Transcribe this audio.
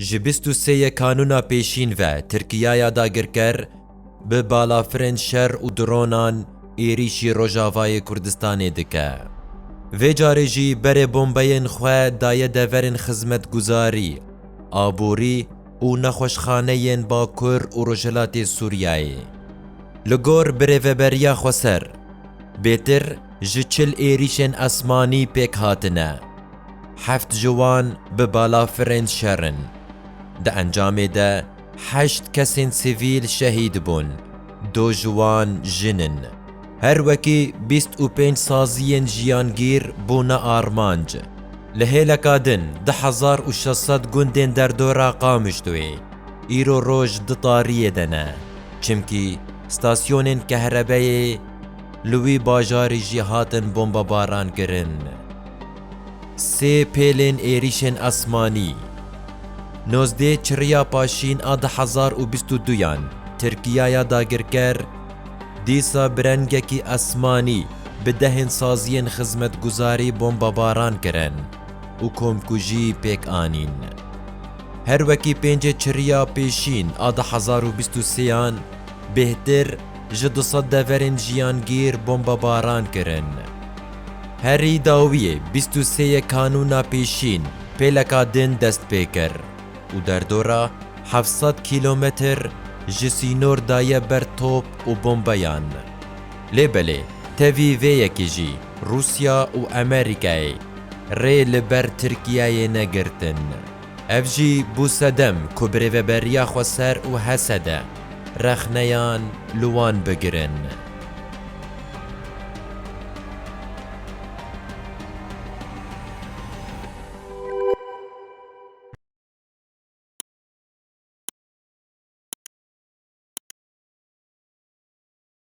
Ji bîst û sê ye kanûna pêşîn ve Tirkiyaya dagirker bi balafirên şer û dronan êrîşî Rojavayê Kurdistanê dike. Vê carê jî berê bombeyên xwe daye deverên xizmetguzarî, aborî û nexweşxane yên Bakur û Rojhilatê Sûriyeyê. Li gor birêveberiya Xweser, bêtir ji çil êrîşên esmanî pêk hatine. Heft ji wan bi balafirên şer in. Di encamê de heşt kesên sivîl şehîd bûn, du ji wan jin in. Her wekî bîst û pênc saziyên jiyangîr bûne armanc. Li hêleka din du hezar û şeş sed gundên derdora Qamişloyê îro roj di tariyê de ne, çimkî stasyonên kehrebeyê li wî bajarî jî hatin bombebarankirin. Sê pêlên êrîşên esmanî, nozdê çirriya paşîn a du hezar û bîst û duyan Tirkiyaya dagirker, dîsa bi rengekî esmanî bi dehên saziyên xizmetguzarî bombebaran kirin û komkujî pêk anîn. Her wekî pêncê çirriya pêşîn a du hezar û bîst û sêyan bêhtir ji du sed deverên jiyangîr bombebaran kirin. Herî dawiyê bîst û sê yê kanûna pêşîn pêleka din dest pê kir û derdora heft sed kîlometr ji sînor daye ber top û bombeyan. Lê belê tevî vê yekê jî Rûsya û Amerîkayê rê li ber Tirkiyeyê negirtin. Ev jî bû sedem ku bi rêveberiya Xweser û Hesede rexneyan li wan bigirin.